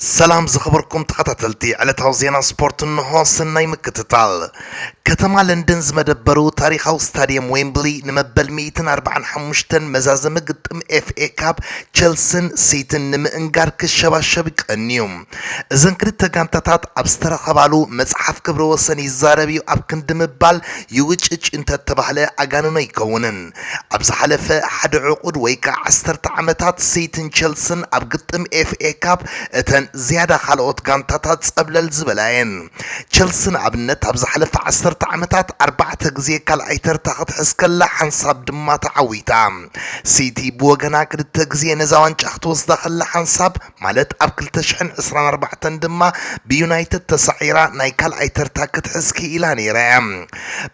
ሰላም ዝኸበርኩም ተኸታተልቲ ዕለታዊ ዜና ስፖርት እንሆ ሰናይ ምክትታል። ከተማ ለንደን ዝመደበሩ ታሪኻዊ ስታድየም ዌምብሊ ንመበል 145 መዛዘሚ ግጥም ኤፍኤ ካብ ቸልስን ሲትን ንምእንጋር ክሸባሸብ ይቀንዩ። እዘን ክልተ ጋንታታት ኣብ ዝተረኸባሉ መጽሓፍ ክብረ ወሰን ይዛረብ እዩ ኣብ ክንዲ ምባል ይውጭጭ እንተተባህለ ኣጋንኖ ኣይከውንን። ኣብ ዝሓለፈ ሓደ ዕቑድ ወይ ከኣ ዓሰርተ ዓመታት ሲቲን ቸልስን ኣብ ግጥም ኤፍኤ ካፕ እተን ዝያዳ ካልኦት ጋንታታት ጸብለል ዝበላ እየን። ቸልሲ ንኣብነት ኣብ ዝሓለፈ ዓሰርተ ዓመታት ኣርባዕተ ግዜ ካልኣይ ተርታ ክትሕዝ ከላ ሓንሳብ ድማ ተዓዊታ። ሲቲ ብወገና ክልተ ግዜ ነዛ ዋንጫ ክትወስዳ ከላ ሓንሳብ ማለት ኣብ ክልተ ሽሕን ዕስራን ኣርባዕተን ድማ ብዩናይትድ ተሳዒራ ናይ ካልኣይ ተርታ ክትሕዝ ክኢላ ነይራ እያ።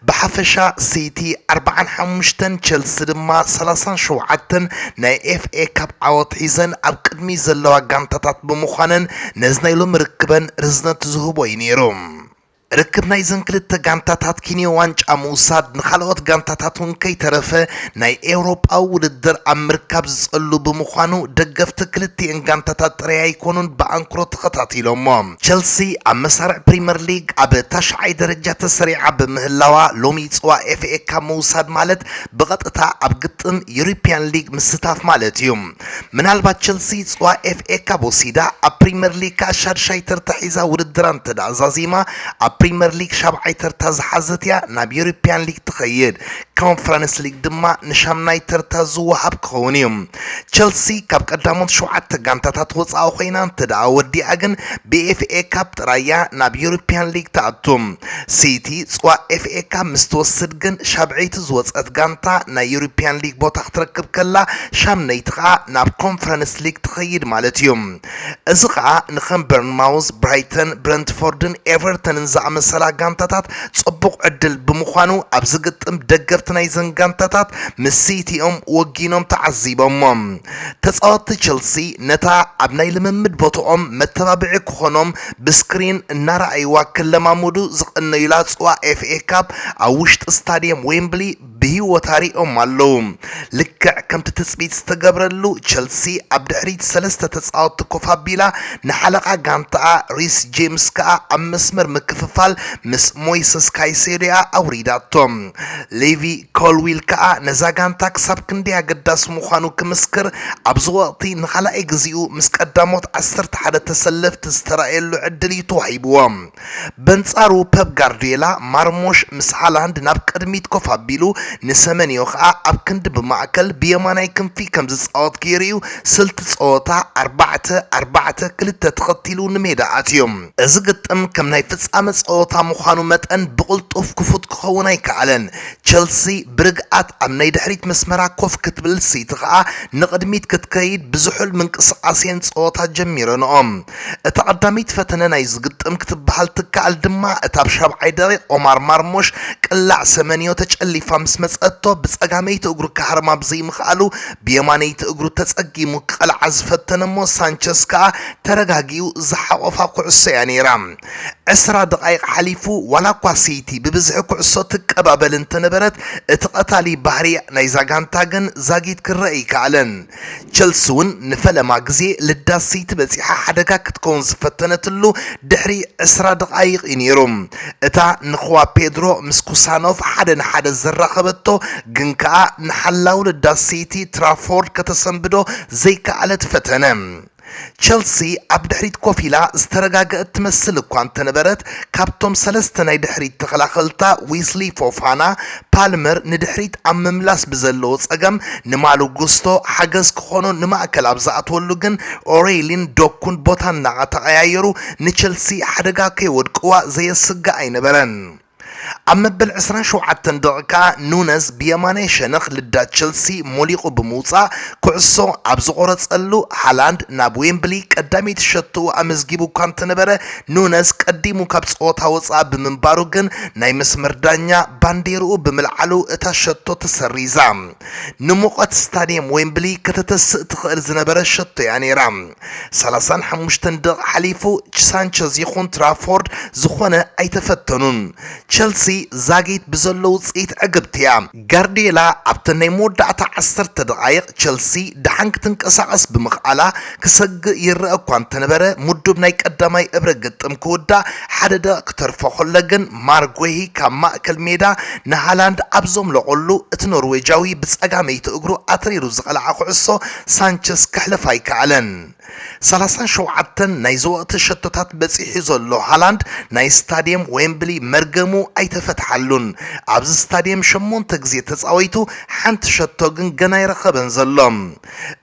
ብሓፈሻ ሲቲ ኣርብዓን ሓሙሽተን ቸልሲ ድማ ሰላሳን ሸውዓተን ናይ ኤፍኤ ካፕ ዓወት ሒዘን ኣብ ቅድሚት ዘለዋ ጋንታታት ብምዃነን ነዚ ናይ ሎሚ ርክበን ርዝነት ዝህቦ እዩ ነይሩ። ርክብ ናይዘን ክልተ ጋንታታት ኪንዮ ዋንጫ ምውሳድ ንኻልኦት ጋንታታት እውን ከይተረፈ ናይ ኤውሮጳዊ ውድድር ኣብ ምርካብ ዝጸሉ ብምዃኑ ደገፍቲ ክልቲኤን ጋንታታት ጥራይ ኣይኮኑን ብኣንክሮ ተኸታቲሎሞ። ቸልሲ ኣብ መሳርዕ ፕሪመር ሊግ ኣብ ታሽዓይ ደረጃ ተሰሪዓ ብምህላዋ ሎሚ ጽባሕ ኤፍኤ ካፕ ምውሳድ ማለት ብቐጥታ ኣብ ግጥም ዩሮፕያን ሊግ ምስታፍ ማለት እዩ። ምናልባት ቸልሲ ጽዋ ኤፍኤ ካብ ወሲዳ ኣብ ፕሪመር ሊግ ከኣ ሻድሻይ ተርታ ሒዛ ውድድራ እንተደኣ ዛዚማ ኣብ ፕሪመር ሊግ ሻብዓይ ተርታ ዝሓዘት እያ ናብ ዩሮፕያን ሊግ ትኸይድ ኮንፈረንስ ሊግ ድማ ንሻምናይ ተርታ ዝወሃብ ክኸውን እዩ ቸልሲ ካብ ቀዳሞት ሸውዓተ ጋንታታት ወጻኢ ኮይና እንተደኣ ወዲኣ ግን ብኤፍኤ ካብ ጥራያ ናብ ዩሮፕያን ሊግ ትኣቱ ሲቲ ፅዋዕ ኤፍኤካፕ ምስ ትወስድ ግን ሻብዐይቲ ዝወፀት ጋንታ ናይ ዩሮፒያን ሊግ ቦታ ክትረክብ ከላ ሻምነይቲ ከዓ ናብ ኮንፈረንስ ሊግ ትኸይድ ማለት እዩ። እዚ ከዓ ንከም በርንማውዝ፣ ብራይተን፣ ብረንትፎርድን ኤቨርተንን ዝኣመሰላ ጋንታታት ፅቡቕ ዕድል ብምዃኑ ኣብዚ ግጥም ደገፍቲ ናይዘን ጋንታታት ምስ ሲቲ እዮም ወጊኖም ተዓዚቦሞም። ተፃወትቲ ቼልሲ ነታ ኣብ ናይ ልምምድ ቦትኦም መተባብዒ ክኾኖም ብስክሪን እናረኣይዋ ክለማመዱ ዝቐነዩላ ፅዋ ኤፍኤ ካፕ ኣብ ውሽጢ ስታዲየም ዌምብሊ ብህይወታ ሪኦም ኣለዉ። ልክዕ ከምቲ ትፅቢት ዝተገብረሉ ቸልሲ ኣብ ድሕሪት ሰለስተ ተፃወትቲ ኮፍ ኣቢላ ንሓለቓ ጋንታኣ ሪስ ጄምስ ከዓ ኣብ መስመር ምክፍፋል ምስ ሞይሰስ ካይሴዶ'ያ ኣውሪዳቶ። ሌቪ ኮልዊል ከኣ ነዛ ጋንታ ክሳብ ክንደይ ኣገዳሲ ምዃኑ ክምስክር ኣብዚ ወቕቲ ንኻልኣይ ግዜኡ ምስ ቀዳሞት ዓሰርተ ሓደ ተሰለፍቲ ዝተራእየሉ ዕድል እዩ ተዋሂብዎ። በንጻሩ ፐፕ ጋርድዮላ ማርሞሽ ምስ ሃላንድ ናብ ቅድሚት ኮፍ ኣቢሉ ንሰመንዮ ከኣ ኣብ ክንዲ ብማእከል ብየማናይ ክንፊ ከም ዝጻወት ገይሩ እዩ ስልቲ ጸወታ ኣርባዕተ ኣርባዕተ ክልተ ተኸቲሉ ንሜዳ ኣትዩ። እዚ ግጥም ከም ናይ ፍጻመ ጸወታ ምዃኑ መጠን ብቕልጡፍ ክፉት ክኸውን ኣይከኣለን። ቸልሲ ብርግኣት ኣብ ናይ ድሕሪት መስመራ ኮፍ ክትብል ሲቲ ከኣ ንቕድሚት ክትከይድ ብዝሑል ምንቅስቓስ እየን ጸወታ ጀሚረንኦ። እታ ቀዳመይቲ ፈተነ ናይዚ ግጥም ክትበሃል ትከኣል ድማ እታ ኣብ ሻብዓይ ደቒቕ ኦማር ማርሞሽ ቅላዕ ሰመንዮ ተጨሊፋ ምስ መጸቶ ብጸጋመይቲ እግሩ ክሃርማ ብዘይምኽኣሉ ብየማነይቲ እግሩ ተጸጊሙ ክቐልዓ ዝፈተነ'ሞ ሳንቸዝ ከኣ ተረጋጊኡ ዝሓቖፋ ኩዕሶ እያ ነይራ። ዕስራ ደቓይቕ ሓሊፉ ዋላኳ ሲቲ ብብዝሒ ኩዕሶ ትቀባበል እንተነበረት እቲ ቀታሊ ባህሪ ናይዛ ጋንታ ግን ዛጊት ክረኣ ኣይከኣለን። ቸልሲ'ውን ንፈለማ ግዜ ልዳት ሲቲ በጺሓ ሓደጋ ክትከውን ዝፈተነትሉ ድሕሪ ዕስራ ደቓይቕ እዩ ነይሩ። እታ ንክዋ ፔድሮ ምስ ኩሳኖቭ ሓደ ንሓደ ዘራኸበቶ ግን ከኣ ንሓላው ልዳት ሲቲ ትራፎርድ ከተሰንብዶ ዘይከኣለት ፈተነ። ቸልሲ ኣብ ድሕሪት ኮፍ ኢላ ዝተረጋገእት ትመስል እኳ እንተነበረት፣ ካብቶም ሰለስተ ናይ ድሕሪት ተኸላኸልታ ዊስሊ ፎፋና፣ ፓልመር ንድሕሪት ኣብ ምምላስ ብዘለዎ ጸገም ንማሎ ጉስቶ ሓገዝ ክኾኖ ንማእከል ኣብ ዝኣትወሉ ግን ኦረይሊን ዶኩን ቦታ እናተቐያየሩ ንቸልሲ ሓደጋ ከየወድቅዋ ዘየስግእ ኣይነበረን። ኣብ መበል ዕስራን ሸውዓተን ደቒቕ ከኣ ኑነዝ ብየማናይ ሸነኽ ልዳ ቸልሲ ሞሊቑ ብምውጻእ ኩዕሶ ኣብ ዝቖረጸሉ፣ ሃላንድ ናብ ዌምብሊ ቀዳመይቲ ሸቶኡ ኣመዝጊቡ እኳ እንተነበረ፣ ኑነዝ ቀዲሙ ካብ ጸወታ ወጻኢ ብምንባሩ ግን ናይ መስመር ዳኛ ባንዴርኡ ብምልዓሉ እታ ሸቶ ተሰሪዛ። ንሙቐት ስታድየም ዌምብሊ ከተተስእ ትኽእል ዝነበረ ሸቶ'ያ ነይራ። ሰላሳን ሓሙሽተን ደቕ ሓሊፉ ሳንቸዝ ይኹን ትራፎርድ ዝኾነ ኣይተፈተኑን። ቸልሲ ዛጊት ብዘሎ ውጽኢት ዕግብቲ እያ። ጋርድየላ ኣብተን ናይ መወዳእታ ዓሰርተ ደቓይቕ ቸልሲ ደሓን ክትንቀሳቐስ ብምኽኣላ ክሰግእ ይረኣ እኳ እንተነበረ ምዱብ ናይ ቀዳማይ እብረ ግጥም ክውዳእ ሓደ ደቕ ክተርፎ ከሎ ግን ማርክ ጉሂ ካብ ማእከል ሜዳ ንሃላንድ ኣብ ዘምለቖሉ እቲ ኖርዌጃዊ ብጸጋመይቲ እግሩ ኣትሪሩ ዝቐልዓ ኩዕሶ ሳንቸስ ከሕልፍ ኣይከኣለን። ሰላሳን ሸውዓተን ናይ ዘወእቲ ሸቶታት በጺሑ ዘሎ ሃላንድ ናይ ስታድየም ዌምብሊ መርገሙ ኣይተፈትሓሉን። ኣብዚ ስታድየም ሸሞንተ ግዜ ተጻዊቱ ሓንቲ ሸቶ ግን ገና ኣይረኸበን ዘሎ።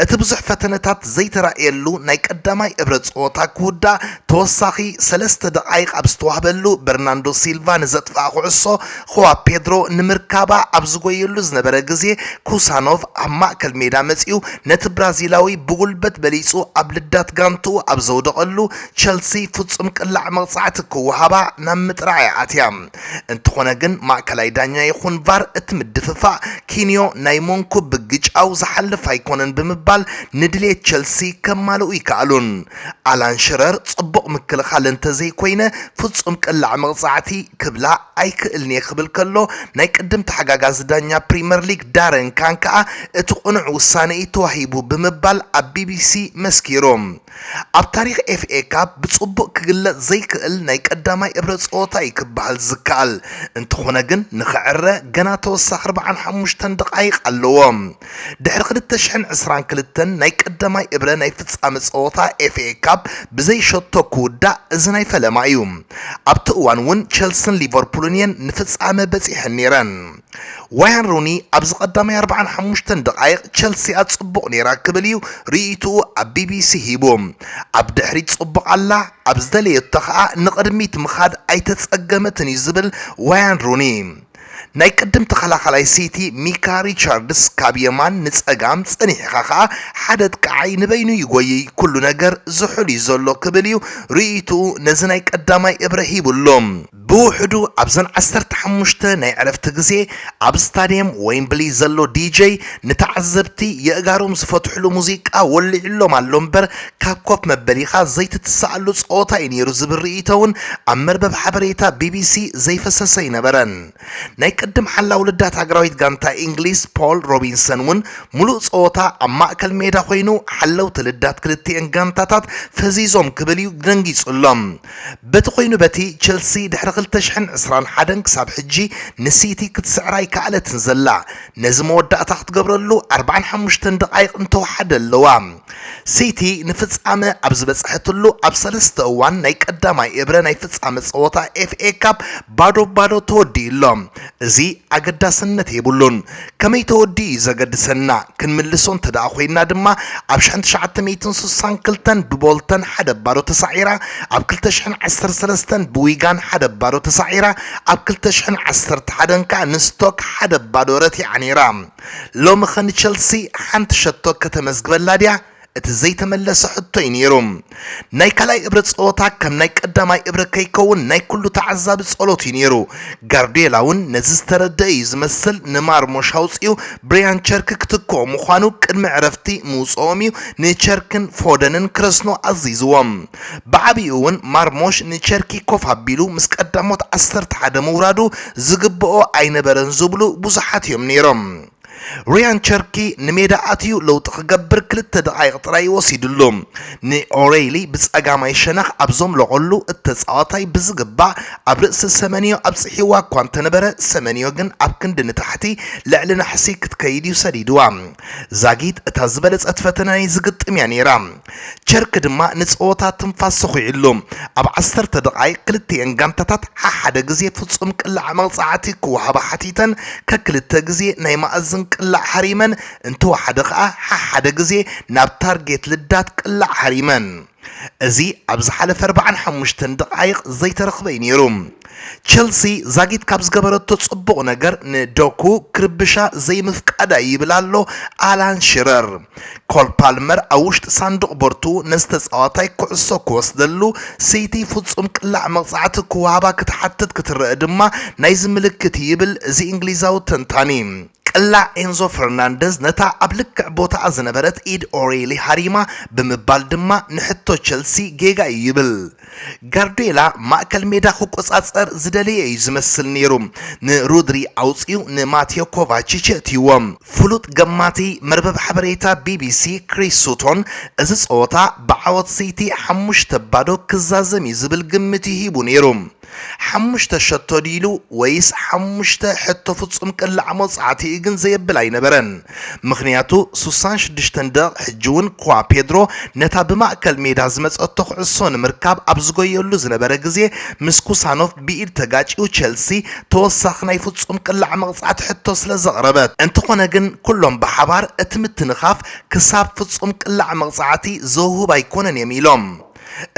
እቲ ብዙሕ ፈተነታት ዘይተራእየሉ ናይ ቀዳማይ እብረ ጸወታ ክውዳእ ተወሳኺ ሰለስተ ደቓይቕ ኣብ ዝተዋህበሉ በርናንዶ ሲልቫ ንዘጥፍኣ ኩዕሶ ኹዋ ፔድሮ ንምርካባ ኣብ ዝጎየሉ ዝነበረ ግዜ፣ ኩሳኖቭ ኣብ ማእከል ሜዳ መጺኡ ነቲ ብራዚላዊ ብጉልበት በሊጹ ኣብ ልዳት ጋንትኡ ኣብ ዘውደቐሉ፣ ቸልሲ ፍጹም ቅላዕ መቕጻዕቲ ክወሃባ ናብ ምጥራዕ'ያ ኣትያ። እንተኾነ ግን ማእከላይ ዳኛ ይኹን ቫር እቲ ምድፍፋእ ኪንዮ ናይ ሞንኩ ብግጫው ዝሓልፍ ኣይኮነን ብምባል ንድሌት ቸልሲ ከማልኡ ኣይከኣሉን። ኣላን ሽረር ጽቡቕ ምክልኻል እንተዘይኮይነ ፍጹም ቅላዕ መቕጻዕቲ ክብላ ኣይክእልን'የ ክብል ከሎ፣ ናይ ቅድም ተሓጋጋዚ ዳኛ ፕሪመር ሊግ ዳረን ካን ከኣ እቲ ቅኑዕ ውሳነ'ዩ ተዋሂቡ ብምባል ኣብ ቢቢሲ መስኪሩ። ኣብ ታሪኽ ኤፍኤ ካፕ ብጽቡቕ ክግለጽ ዘይክእል ናይ ቀዳማይ እብረ ጸወታ'ዩ ክበሃል ዝከኣል፣ እንተኾነ ግን ንኽዕረ ገና ተወሳኺ ኣርብዓን ሓሙሽተን ደቓይቕ ኣለዎ። ድሕሪ ክልተ ሽሕን ዕስራን ክልተን ናይ ቀዳማይ እብረ ናይ ፍጻመ ጸወታ ኤፍኤ ካፕ ብዘይ ሸቶ ክውዳእ እዚ ናይ ፈለማ እዩ። ኣብቲ እዋን እውን ቸልስን ሊቨርፑልን እየን ንፍጻመ በጺሐን ነይረን። ዋያን ሩኒ ኣብዚ ቀዳማይ ኣርብዓን ሓሙሽተን ደቓይቕ ቸልሲኣ ጽቡቕ ነይራ ክብል እዩ ርእይትኡ ኣብ ቢቢሲ ሂቡ። ኣብ ድሕሪት ጽቡቕ ኣላ፣ ኣብ ዝደለየቶ ከኣ ንቕድሚት ምኻድ ኣይተጸገመትን እዩ ዝብል ዋያን ሩኒ። ናይ ቅድም ተኸላኻላይ ሲቲ ሚካ ሪቻርድስ ካብ የማን ንጸጋም ጸኒሕኻ ከኣ ሓደ ኣጥቃዓይ ንበይኑ ይጎይይ ኩሉ ነገር ዝሑል እዩ ዘሎ ክብል እዩ ርእይትኡ ነዚ ናይ ቀዳማይ እብረ ሂቡ ኣሎ። ብውሕዱ ኣብዘን ዓሰርተ ሓሙሽተ ናይ ዕረፍቲ ግዜ ኣብ ስታድየም ወይምብሊ ዘሎ ዲጀይ ንተዓዘብቲ የእጋሮም ዝፈትሕሉ ሙዚቃ ወሊዕሎም ኣሎ እምበር ካብ ኮፍ መበሊኻ ዘይትትስኣሉ ጸወታ እዩ ነይሩ ዝብል ርእይቶ'ውን ኣብ መርበብ ሓበሬታ ቢቢሲ ዘይፈሰሰ ኣይነበረን። ናይ ቅድም ሓላዊ ልዳት ሃገራዊት ጋንታ ኢንግሊዝ ፖል ሮቢንሰን'ውን ምሉእ ጸወታ ኣብ ማእከል ሜዳ ኮይኑ ሓለውቲ ልዳት ክልቲኤን ጋንታታት ፈዚዞም ክብል'ዩ ደንጊጹ'ሎም። በቲ ኮይኑ በቲ ቸልሲ ድሕሪ ክልተ ሽሕን ዕስራን ሓደን ክሳብ ሕጂ ንሲቲ ክትስዕራ ኣይከኣለትን ዘላ። ነዚ መወዳእታ ክትገብረሉ ኣርብዓን ሓሙሽተን ደቓይቕ እንተወሓደ ኣለዋ። ሲቲ ንፍጻመ ኣብ ዝበጽሐትሉ ኣብ ሰለስተ እዋን ናይ ቀዳማይ እብረ ናይ ፍጻመ ጸወታ ኤፍኤ ካፕ ባዶ ባዶ ተወዲኡ ኣሎ። እዚ ኣገዳስነት የብሉን። ከመይ ተወዲኡ እዩ ዘገድሰና። ክንምልሶ እንተደኣ ኮይና ድማ ኣብ ሽሕን ትሽዓተ ሚእትን ስሳን ክልተን ብቦልተን ሓደ ባዶ ተሳዒራ፣ ኣብ ክልተ ሽሕን ዓሰርተ ሰለስተን ብዊጋን ሓደ ባዶ ተሳዒራ፣ ኣብ ክልተ ሽሕን ዓሰርተ ሓደን ከኣ ንስቶክ ሓደ ባዶ ረቲዓ ነይራ። ሎምኸ ንቸልሲ ሓንቲ ሸቶ ከተመዝግበላ ድያ? እቲ ዘይተመለሰ ሕቶ'ዩ ነይሩ። ናይ ካልኣይ እብረ ጸወታ ከም ናይ ቀዳማይ እብረ ከይከውን ናይ ኩሉ ተዓዛቢ ጸሎት'ዩ ነይሩ። ጋርድዮላ'ውን ነዚ ዝተረድኣ'ዩ ዝመስል ንማርሞሽ ኣውጺኡ ብሪያን ቸርኪ ክትክኦ ምዃኑ ቅድሚ ዕረፍቲ ምውጽኦም'ዩ ንቸርክን ፎደንን ክረስኑ ኣዚዝዎም። ብዓቢኡ'ውን ማርሞሽ ንቸርኪ ኮፍ ኣቢሉ ምስ ቀዳሞት ዓሰርተ ሓደ ምውራዱ ዝግብኦ ኣይነበረን ዝብሉ ብዙሓት እዮም ነይሮም። ርያን ቸርኪ ንሜዳ ኣትዩ ለውጢ ክገብር ክልተ ደቓይቕ ጥራይ እዩ ወሲድሉ። ንኦረይሊ ብጸጋማይ ሸነኽ ኣብ ዘምለቖሉ፣ እቲ ተጻዋታይ ብዝግባእ ኣብ ርእሲ ሰመንዮ ኣብጽሒዋ እኳ እንተነበረ፣ ሰመንዮ ግን ኣብ ክንዲ ንታሕቲ ልዕሊ ናሕሲ ክትከይድ እዩ ሰዲድዋ። ዛጊት እታ ዝበለጸት ፈተነ ናይዚ ግጥም እያ ነይራ። ቸርኪ ድማ ንጸወታ ትንፋስ ሰዂዑሉ። ኣብ ዓሰርተ ደቓይቕ ክልቲኤን ጋንታታት ሓሓደ ግዜ ፍጹም ቅላዕ መቕጻዕቲ ክወሃባ ሓቲተን ከክልተ ግዜ ናይ መኣዝን ቅላዕ ሃሪመን እንተወሓደ ከኣ ሓሓደ ግዜ ናብ ታርጌት ልዳት ቅላዕ ሃሪመን። እዚ ኣብ ዝሓለፈ ኣርባዓን ሓሙሽተን ደቓይቕ ዘይተረኽበ'ዩ ነይሩ። ቸልሲ ዛጊት ካብ ዝገበረቶ ጽቡቕ ነገር ንዶኩ ክርብሻ ዘይምፍቃዳ'ዩ ይብል ኣሎ ኣላን ሽረር። ኮል ፓልመር ኣብ ውሽጢ ሳንዱቕ ቦርትኡ ነዚ ተጻዋታይ ኩዕሶ ክወስደሉ፣ ሲቲ ፍጹም ቅላዕ መቕጻዕቲ ክወሃባ ክትሓትት ክትረኣ ድማ ናይዚ ምልክት እዩ ይብል እዚ እንግሊዛዊ ተንታኒ። ቅላዕ ኤንዞ ፈርናንደዝ ነታ ኣብ ልክዕ ቦታኣ ዝነበረት ኢድ ኦሬሊ ሃሪማ ብምባል ድማ ንሕቶ ቸልሲ ጌጋ እዩ ይብል። ጋርድዮላ ማእከል ሜዳ ክቆጻጸር ዝደለየ እዩ ዝመስል ነይሩ። ንሮድሪ ኣውጺኡ ንማቴዮ ኮቫቺች የእትይዎ። ፍሉጥ ገማቲ መርበብ ሓበሬታ ቢቢሲ ክሪስ ሱቶን እዚ ጸወታ ብዓወት ሲቲ ሓሙሽተ ባዶ ክዛዘም እዩ ዝብል ግምት እዩ ሂቡ ነይሩ። ሓሙሽተ ሸቶ ድዩ ኢሉ ወይስ ሓሙሽተ ሕቶ ፍጹም ቅላዕ መውጻዕቲ እዩ ግን ዘየብል ኣይነበረን። ምኽንያቱ ሱሳን ሽዱሽተን ደቕቕ ሕጂ'ውን ክዋ ፔድሮ ነታ ብማእከል ሜዳ ዝመጸቶ ኩዕሶ ንምርካብ ኣብ ዝጎየሉ ዝነበረ ግዜ ምስ ኩሳኖቭ ብኢድ ተጋጭዩ ቸልሲ ተወሳኺ ናይ ፍጹም ቅላዕ መቕጻዕቲ ሕቶ ስለ ዘቕረበት እንተኾነ ግን ኩሎም ብሓባር እቲ ምትንኻፍ ክሳብ ፍጹም ቅላዕ መቕጻዕቲ ዘውህብ ኣይኮነን እዮም ኢሎም።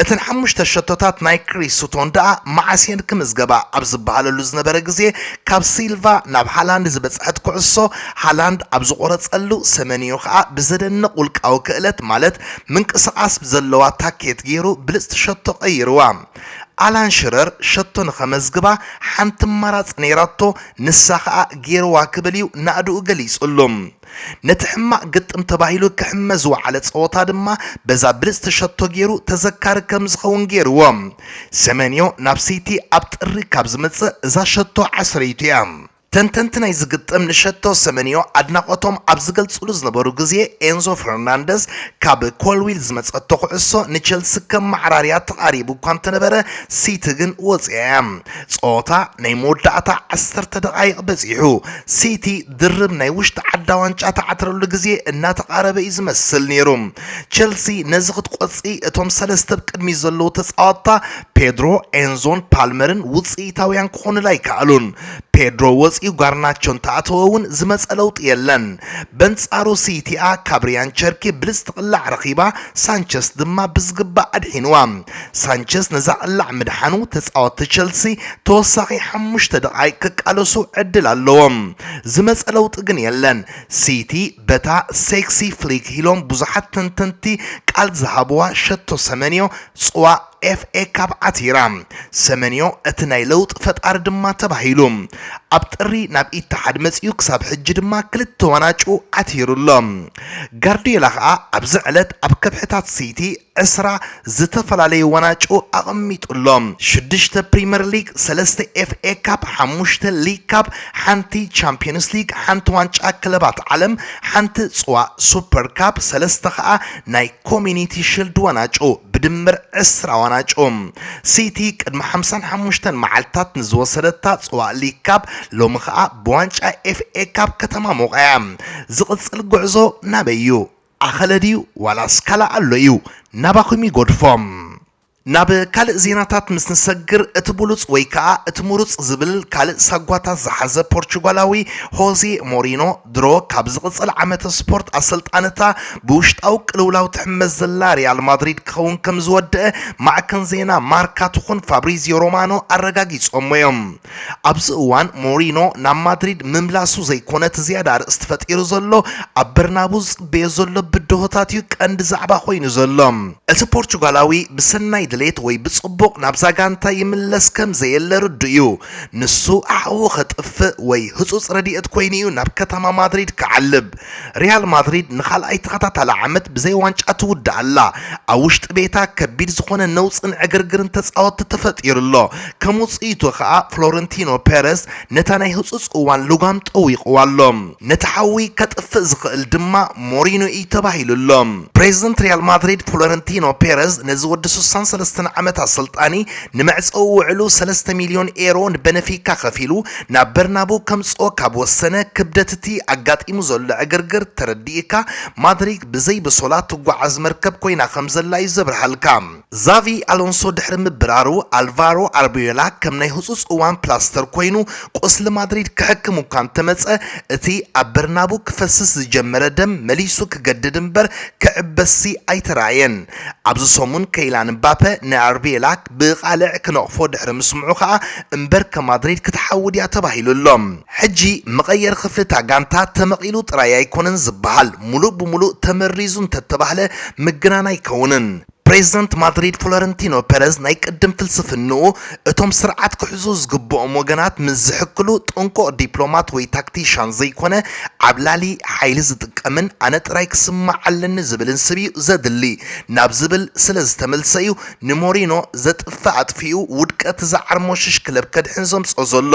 እተን ሓሙሽተ ሸቶታት ናይ ክሪስ ሱቶን ደኣ መዓስ እየን ክምዝገባ ኣብ ዝበሃለሉ ዝነበረ ግዜ ካብ ሲልቫ ናብ ሃላንድ ዝበጽሐት ኩዕሶ ሃላንድ ኣብ ዝቖረጸሉ ሰመንዮ ከኣ ብዘደንቕ ውልቃዊ ክእለት ማለት ምንቅስቓስ ብዘለዋ ታኬት ጌሩ ብልጽቲ ሸቶ ቀይርዋ ኣላን ሽረር ሸቶ ንኸመዝግባ ሓንቲ ኣማራጺ ነይራቶ ንሳ ከኣ ጌርዋ ክብል እዩ ናእድኡ ገሊጹሉ። ነቲ ሕማቕ ግጥም ተባሂሉ ክሕመ ዝወዓለ ጸወታ ድማ በዛ ብልጽቲ ሸቶ ጌሩ ተዘካሪ ከም ዝኸውን ጌርዎ። ሰመንዮ ናብ ሲቲ ኣብ ጥሪ ካብ ዝመጽእ እዛ ሸቶ ዓስረይቱ እያ። ተንተንቲ ናይዚ ግጥም ንሸቶ ሰመንዮ ኣድናቖቶም ኣብ ዝገልጽሉ ዝነበሩ ግዜ ኤንዞ ፈርናንደዝ ካብ ኮልዊል ዝመጸቶ ኩዕሶ ንቸልሲ ከም ማዕራርያ ተቓሪቡ እኳ እንተነበረ ሲቲ ግን ወጺኣ እያ። ጸወታ ናይ መወዳእታ ዓሰርተ ደቓይቕ በጺሑ ሲቲ ድርብ ናይ ውሽጢ ዓዳ ዋንጫ ትዓትረሉ ግዜ እናተቓረበ እዩ ዝመስል ነይሩ። ቸልሲ ነዚ ክትቆጽ እቶም ሰለስተ ብ ቅድሚት ዘለዉ ተጻዋትታ ፔድሮ፣ ኤንዞን ፓልመርን ውጽኢታውያን ክኾኑላ ኣይከኣሉን። ፔድሮ ወጺኡ ጋርናቾ እንተኣተወ እውን ዝመጸ ለውጢ የለን። በንጻሩ ሲቲኣ ካብ ሪያን ቸርኪ ብልጽቲ ቅላዕ ረኺባ፣ ሳንቸስ ድማ ብዝግባእ ኣድሒኑዋ። ሳንቸዝ ነዛ ቅላዕ ምድሓኑ ተጻወትቲ ቸልሲ ተወሳኺ ሓሙሽተ ደቓይቕ ክቃለሱ ዕድል ኣለዎም። ዝመጸ ለውጢ ግን የለን። ሲቲ በታ ሴክሲ ፍሊክ ኢሎም ብዙሓት ተንተንቲ ቃል ዝሃብዋ ሸቶ ሰመንዮ ጽዋእ ኤፍኤ ካፕ ዓቲራ። ሰመንዮ እቲ ናይ ለውጢ ፈጣሪ ድማ ተባሂሉ። ኣብ ጥሪ ናብ ኢትሓድ መጺኡ ክሳብ ሕጂ ድማ ክልተ ዋናጩ ዓቲሩ ኣሎ። ጋርድዮላ ከኣ ኣብዚ ዕለት ኣብ ከብሕታት ሲቲ ዕስራ ዝተፈላለዩ ዋናጩ ኣቐሚጡ ኣሎ። ሽዱሽተ ፕሪመር ሊግ፣ ሰለስተ ኤፍኤ ካፕ፣ ሓሙሽተ ሊግ ካፕ፣ ሓንቲ ቻምፕዮንስ ሊግ፣ ሓንቲ ዋንጫ ክለባት ዓለም፣ ሓንቲ ፅዋእ ሱፐር ካፕ፣ ሰለስተ ከዓ ናይ ኮሚኒቲ ሽልድ ዋናጩ፣ ብድምር ዕስራ ዋናጩ። ሲቲ ቅድሚ ሓምሳን ሓሙሽተን መዓልትታት ንዝወሰደታ ፅዋእ ሊግ ካፕ ሎሚ ከዓ ብዋንጫ ኤፍኤ ካፕ ከተማሙቐ እያ። ዝቕፅል ጉዕዞ ናበይ እዩ? ኣኸለ ድዩ ዋላስ ካልእ ኣሎ እዩ ናባኹም ይጎድፎ። ናብ ካልእ ዜናታት ምስ ንሰግር እቲ ብሉጽ ወይ ከኣ እቲ ምሩጽ ዝብል ካልእ ሳጓታት ዝሓዘ ፖርቹጋላዊ ሆዜ ሞሪኖ ድሮ ካብ ዝቕጽል ዓመተ ስፖርት ኣሰልጣኒ'ታ ብውሽጣዊ ቅልውላው ትሕመስ ዘላ ሪያል ማድሪድ ክኸውን ከምዝወደኣ ማዕከን ዜና ማርካ ትኹን ፋብሪዝዮ ሮማኖ ኣረጋጊጾምዎ እዮም። ኣብዚ እዋን ሞሪኖ ናብ ማድሪድ ምምላሱ ዘይኮነ እቲ ዝያዳ ኣርእስቲ ፈጢሩ ዘሎ ኣብ በርናቡ ዝጽበዮ ዘሎ ብድሆታት እዩ ቀንዲ ዛዕባ ኮይኑ ዘሎ። እቲ ፖርቹጋላዊ ብሰናይ ድሌት ወይ ብጽቡቕ ናብዛ ጋንታ ይምለስ ከም ዘየለ ርዱእ እዩ። ንሱ ሓዊ ከጥፍእ ወይ ህጹጽ ረድኤት ኮይኑ እዩ ናብ ከተማ ማድሪድ ክዓልብ። ሪያል ማድሪድ ንኻልኣይ ተኸታታሊ ዓመት ብዘይ ዋንጫ ትውዳእ ኣላ። ኣብ ውሽጢ ቤታ ከቢድ ዝኾነ ነውጽን ዕግርግርን ተጻወትቲ ተፈጢሩ ኣሎ። ከም ውጽኢቱ ከኣ ፍሎረንቲኖ ፔረዝ ነታ ናይ ህጹጽ እዋን ልጓም ጠዊቕዋ ኣሎ። ነቲ ሓዊ ከጥፍእ ዝኽእል ድማ ሞሪንዮ እዩ ተባሂሉ ኣሎ። ፕሬዝደንት ሪያል ማድሪድ ፍሎረንቲኖ ፔረዝ ነዚ ወዲ ስሳን ሰለስተን ዓመት ኣሰልጣኒ ንመዕጸዊ ውዕሉ ሰለስተ ሚልዮን ኤሮ ንበነፊካ ከፊሉ ናብ በርናቡ ከምጽኦ ካብ ወሰነ፣ ክብደት እቲ ኣጋጢሙ ዘሎ ዕግርግር ተረዲእካ፣ ማድሪክ ብዘይ ብሶላ ትጓዓዝ መርከብ ኮይና ከምዘላ እዩ ዘብርሃልካ። ዛቪ ኣሎንሶ ድሕሪ ምብራሩ፣ ኣልቫሮ ኣርቦዮላ ከም ናይ ህጹጽ እዋን ፕላስተር ኮይኑ ቁስሊ ማድሪድ ክሕክም እኳ እንተመጸ፣ እቲ ኣብ በርናቡ ክፈስስ ዝጀመረ ደም መሊሱ ክገድድ እምበር ክዕበስሲ ኣይተራእየን። ኣብዚ ሰሙን ከይላን እምባፐ ንኣርቢዮላ ብቓልዕ ክነቕፎ ድሕሪ ምስምዑ ከኣ እምበርከ ማድሪድ ክትሓዊ ድያ ተባሂሉ ኣሎ። ሕጂ መቐየሪ ክፍሊ እታ ጋንታ ተመቒሉ ጥራይ ኣይኮነን ዝበሃል፣ ምሉእ ብምሉእ ተመሪዙ እንተተባህለ ምግናን ኣይከውንን። ፕሬዝደንት ማድሪድ ፍሎረንቲኖ ፔረዝ ናይ ቅድም ፍልስፍንኡ እቶም ስርዓት ክሕዙ ዝግበኦም ወገናት ምስ ዝሕክሉ ጥንቁቕ ዲፕሎማት ወይ ታክቲሻን ዘይኮነ ዓብላሊ ሓይሊ ዝጥቀምን ኣነ ጥራይ ክስማዕ ኣለኒ ዝብልን ስብ'ዩ ዘድሊ ናብ ዝብል ስለዝተመልሰ'ዩ ንሞሪኖ ዘጥፍእ ኣጥፊኡ ውድቀት ዝዓርሞሽሽ ክለብ ከድሕን ዘምጽኦ ዘሎ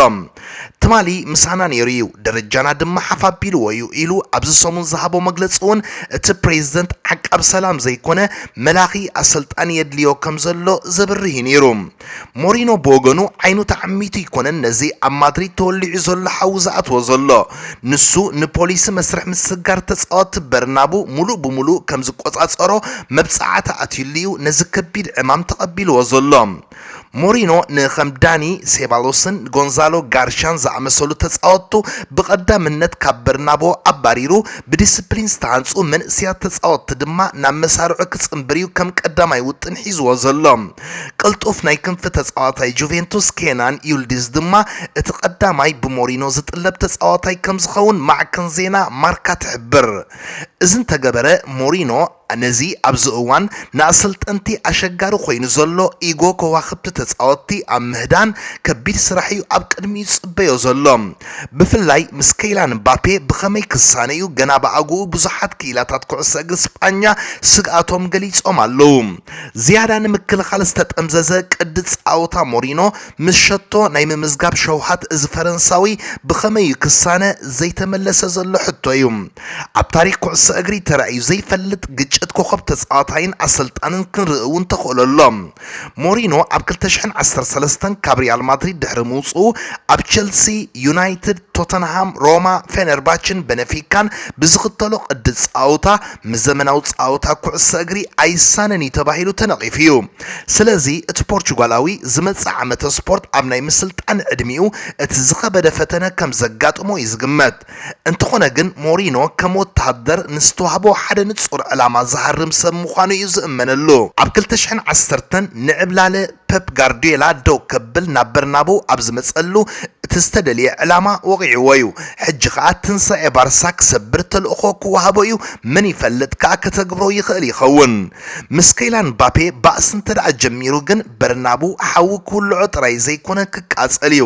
ትማሊ ምሳና ነይሩ እዩ፣ ደረጃና ድማ ሓፍ ኣቢልዎ እዩ ኢሉ ኣብዚ ሰሙን ዝሃቦ መግለጺ እውን እቲ ፕሬዝደንት ዓቃብ ሰላም ዘይኮነ መላኺ ኣሰልጣኒ የድልዮ ከምዘሎ ዘብርህ እዩ ነይሩ። ሞሪኖ ብወገኑ ዓይኑ ተዓሚቱ ኣይኮነን ነዚ ኣብ ማድሪድ ተወሊዑ ዘሎ ሓዊ ዝኣትዎ ዘሎ። ንሱ ንፖሊሲ መስርሕ ምስግጋር ተጻወትቲ በርናቡ ምሉእ ብምሉእ ከም ዝቈጻጸሮ መብጽዓታት ኣትዩሉ'ዩ ነዚ ከቢድ ዕማም ተቐቢልዎ ዘሎ። ሞሪኖ ንከም ዳኒ ሴባሎስን ጎንዛሎ ጋርሻን ዝኣመሰሉ ተጻወትቱ ብቐዳምነት ካብ በርናቡ ኣባሪሩ፣ ብዲስፕሊን ዝተሃንጹ መንእሰያት ተጻወትቲ ድማ ናብ መሳርዑ ክጽንብር'ዩ ከም ቀዳማይ ውጥን ሒዝዎ ዘሎ። ቅልጡፍ ናይ ክንፊ ተጻዋታይ ጁቬንቱስ ኬናን ዩልዲዝ ድማ እቲ ቀዳማይ ብሞሪኖ ዝጥለብ ተጻዋታይ ከምዝኸውን ማዕከን ዜና ማርካ ትሕብር። እዚ እንተገበረ ሞሪኖ ነዚ ኣብዚ እዋን ንኣሰልጠንቲ ኣሸጋሪ ኮይኑ ዘሎ ኢጎ ከዋኽብቲ ተጻወትቲ ኣብ ምህዳን ከቢድ ስራሕ'ዩ ኣብ ቅድሚኡ ዝጽበዮ ዘሎ። ብፍላይ ምስ ከይላን ምባፔ ብኸመይ ክሳነ'ዩ ገና ብኣግኡ ብዙሓት ክኢላታት ኩዕሶ እግሪ ስጳኛ ስግኣቶም ገሊጾም ኣለዉ። ዝያዳ ንምክልኻል ዝተጠምዘዘ ቅዲ ጻውታ ሞሪኖ ምስ ሸቶ ናይ ምምዝጋብ ሸውሃት እዚ ፈረንሳዊ ብኸመይ እዩ ክሳነ ዘይተመለሰ ዘሎ ሕቶ እዩ። ኣብ ታሪኽ ኩዕሶ እግሪ ተራእዩ ዘይፈልጥ ግጭት ኮኾብ ተጻዋታይን ኣሰልጣንን ክንርኢ እውን ተኽእሎ ኣሎ። ሞሪኖ ኣብ ክልተ ሽሕን ዓሰርተ ሰለስተን ካብ ሪያል ማድሪድ ድሕሪ ምውጽኡ ኣብ ቸልሲ፣ ዩናይትድ፣ ቶተንሃም፣ ሮማ፣ ፌነርባችን በነፊካን ብዝኽተሎ ቅዲ ጻውታ ምስ ዘመናዊ ጸወታ ኩዕሶ እግሪ ኣይሳነን እዩ ተባሂሉ ተነቒፉ እዩ። ስለዚ እቲ ፖርቹጋላዊ ዝመጽእ ዓመተ ስፖርት ኣብ ናይ ምስልጣን ዕድሚኡ እቲ ዝኸበደ ፈተነ ከም ዘጋጥሞ እዩ ዝግመት። እንተኾነ ግን ሞሪኖ ከም ወተሃደር ንዝተዋህቦ ሓደ ንጹር ዕላማ ዝሃርም ሰብ ምዃኑ እዩ ዝእመነሉ። ኣብ ክልተ ሽሕን ዓሰርተን ንዕብላለ ፐፕ ጋርድዮላ ደው ከብል ናብ በርናበው ኣብ ዝመጸሉ፣ እቲ ዝተደልየ ዕላማ ወቒዕዎ'ዩ። ሕጂ ከኣ ትንሳኤ ባርሳ ክሰብር ተልእኾ ክወሃቦ'ዩ፣ መን ይፈልጥ ከኣ ከተግብሮ ይኽእል ይኸውን። ምስ ከይላን ምባፔ ባእሲ እንተደኣ ጀሚሩ ግን በርናበው ሓዊ ክውልዖ ጥራይ ዘይኮነ ክቃጸል'ዩ።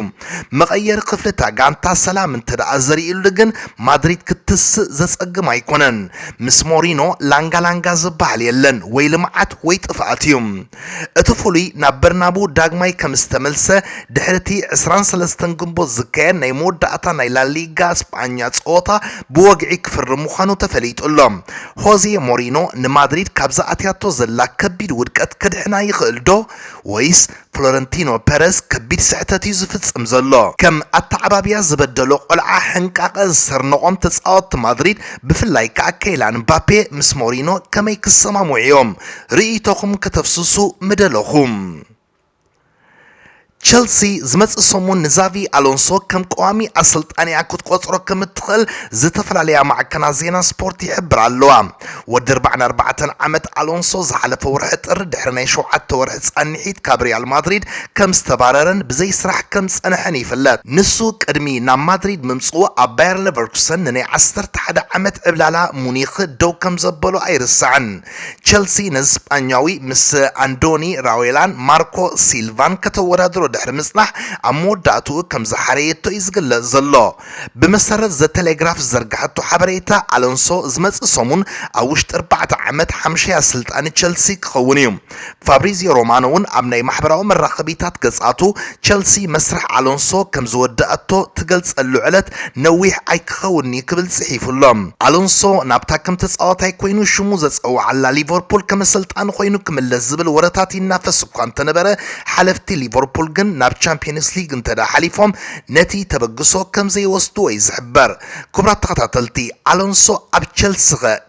መቐየሪ ክፍሊ'ታ ጋንታ ሰላም እንተደኣ ዘሪእሉ ግን ማድሪድ ክትስእ ዘጸግም ኣይኮነን። ምስ ሞሪኖ ላንጋ ላንጋ ዝበሃል የለን፣ ወይ ልምዓት ወይ ጥፍኣት'ዩ። እቲ ፍሉይ ናብ በርናቡ ዳግማይ ከም ዝተመልሰ ድሕሪቲ ዕስራን ሰለስተን ግንቦት ዝካየድ ናይ መወዳእታ ናይ ላሊጋ ስጳኛ ጸወታ ብወግዒ ክፍርም ምዃኑ ተፈሊጡ ኣሎ። ሆዜ ሞሪኖ ንማድሪድ ካብዛ ኣትያቶ ዘላ ከቢድ ውድቀት ከድሕና ይኽእልዶ ወይስ ፍሎረንቲኖ ፐረዝ ከቢድ ስሕተት እዩ ዝፍጽም ዘሎ? ከም ኣተዓባብያ ዝበደሎ ቆልዓ ሕንቃቐ ዝሰርነቖም ተጻወትቲ ማድሪድ ብፍላይ ከኣ ከይላን ምባፔ ምስ ሞሪኖ ከመይ ክሰማምዑ እዮም? ርእይቶኹም ከተፍስሱ ምደለኹ። ቸልሲ ዝመጽእ ሰሙን ንዛቪ ኣሎንሶ ከም ቀዋሚ ኣሰልጣኒኣ ክትቆጽሮ ከም እትኽእል ዝተፈላለያ ማዕከናት ዜና ስፖርት ይሕብራ ኣለዋ። ወዲ ኣርባዓን ኣርባዕተን ዓመት ኣሎንሶ ዝሓለፈ ወርሒ ጥሪ ድሕሪ ናይ ሸውዓተ ወርሒ ጻንሒት ካብ ሪያል ማድሪድ ከም ዝተባረረን ብዘይ ስራሕ ከም ዝጸንሐን ይፍለጥ። ንሱ ቅድሚ ናብ ማድሪድ ምምጽኡ ኣብ ባየር ለቨርኩሰን ንናይ ዓሰርተ ሓደ ዓመት ዕብላላ ሙኒክ ደው ከም ዘበሎ ኣይርሳዕን። ቸልሲ ነዚ ስጳኛዊ ምስ ኣንዶኒ ራዌላን ማርኮ ሲልቫን ከተወዳድሮ ድሕሪ ምጽናሕ ኣብ መወዳእትኡ ከም ዝሓረየቶ እዩ ዝግለጽ ዘሎ። ብመሰረት ዘ ተሌግራፍ ዝዘርግሐቶ ሓበሬታ ኣሎንሶ ዝመጽእ ሰሙን ኣብ ውሽጢ ኣርባዕተ ዓመት ሓምሻይ ኣሰልጣኒ ቸልሲ ክኸውን እዩ። ፋብሪዝዮ ሮማኖ'ውን ኣብ ናይ ማሕበራዊ መራኸቢታት ገጻቱ፣ ቸልሲ መስርሕ ኣሎንሶ ከም ዝወደኣቶ ትገልጸሉ ዕለት ነዊሕ ኣይክኸውን'ዩ ክብል ጽሒፉ ኣሎ። ኣሎንሶ ናብታ ከም ተጻዋታይ ኰይኑ ሽሙ ዘጸውዓላ ሊቨርፑል ከም ኣሰልጣኒ ኰይኑ ክምለስ ዝብል ወረታት ይናፈስ እኳ እንተነበረ፣ ሓለፍቲ ሊቨርፑል ግን ናብ ቻምፕዮንስ ሊግ እንተድኣ ሓሊፎም ነቲ ተበግሶ ከም ዘይወስድዎ'ዩ ዝሕበር። ክቡራት ተኸታተልቲ፣ ኣሎንሶ ኣብ ቸልሲ'ኸ